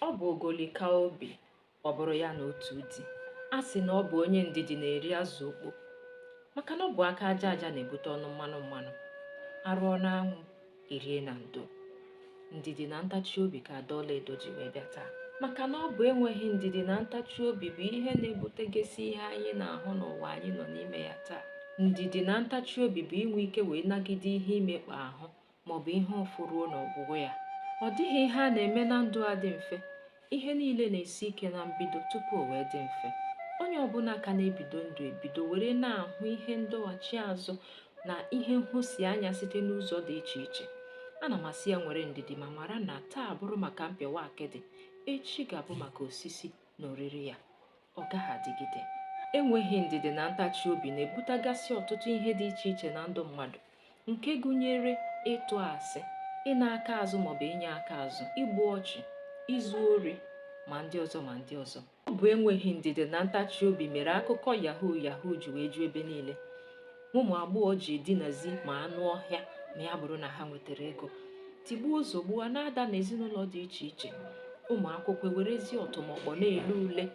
Ọ bụ ogoli kaa obi ọ bụrụ ya na otu di a sị na ọ bụ onye ndidi na-eri azụ okpo maka na ọ bụ aka aja aja na-ebute ọnụ mmanụ mmanụ a rụọ n'anwụ e rie na ndo ndidi na ntachi obi ka ada ọlaedo ji wee bịa taa maka na ọ bụ enweghị ndidi na ntachi obi bụ ihe na-ebutegasị ihe anyị na-ahụ n'ụwa anyị nọ n'ime ya taa ndidi na ntachi obi bụ inwe ike wee nagide ihe imekpa ahụ maọbụ ihe ụfụ ruo n'ọgwụgwụ ya. Ọ dịghị ihe a na-eme na ndụ a dị mfe. Ihe niile na-esi ike na mbido tupu o wee dị mfe. Onye ọbụla ka na-ebido ndụ ebido were na-ahụ ihe ndọghachi azụ na ihe nhụsianya site n'ụzọ dị iche iche. Ana m asị ya nwere ndidi ma mara na taa bụrụ maka mpịawa akịdị, echi ga-abụ maka osisi. na oriri ya ọ gaghị adịgide enweghị ndidi na ntachi obi na-ebutagasị ọtụtụ ihe dị iche iche na ndụ mmadụ nke gụnyere ịtụ asị ịna aka azụ maọbụ inye aka azụ igbu ọchụ izu ori ma ndị ọzọ ma ndị ọzọ ọ bụ enweghị ndidi na ntachi obi mere akụkọ yahoo yahoo ji wee ju ebe niile ụmụ agbọghọ ji edinazi ma anụ ọhịa ma ya bụrụ na ha nwetara ego tigbuo zogbuo a na-ada n'ezinụlọ dị iche iche ụmụ akwụkwọ ewerezi ọtụmọkpọ na-ele ule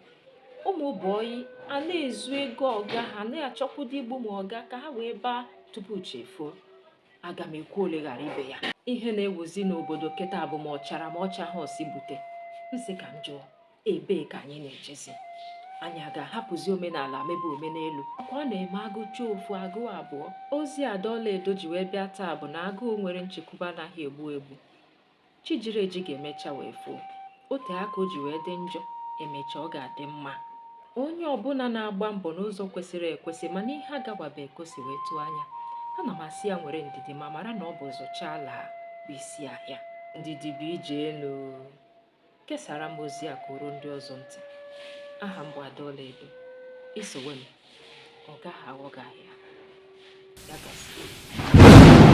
ụmụ bọyị a na-ezu ego ọga ha na-achọkwụdo igbu ma ọga ka ha wee baa tupu chi efuo aga m ekwu ole ghara ibe ya ihe na-ewuzi n'obodo kịta bụ ma ọ chara ma ọ chaha ọ sị bute m sị ka m jụọ ebee ka anyị na-ejezi anyị a ga-ahapụzi omenala mebe omenelu ka ọ na-eme a gụchaa ofu a gụọ abụọ ozi ada ọlaedo ji wee bịa taa bụ na agụụ nwere nchekwube anaghị egbu egbu chi jiri eji ga-emecha wee foo o tee aka o ji wee dị njọ e mechaa ọ ga-adị mma onye ọbụla na-agba mbọ n'ụzọ kwesịrị ekwesị mana ihe agawabe ka o si wee tụọ anya ana m asị ya nwere ndidi ma mara na ọ bụ zụchaa laa bụ isi ahịa ndidi bụ ije enu Kesara m ozi a ka o ruo ndị ọzọ ntị. Aha m bụ Ada Ọlaedo. I sowe m, ọ gaghị aghọ gị ahịa. Ya gazie.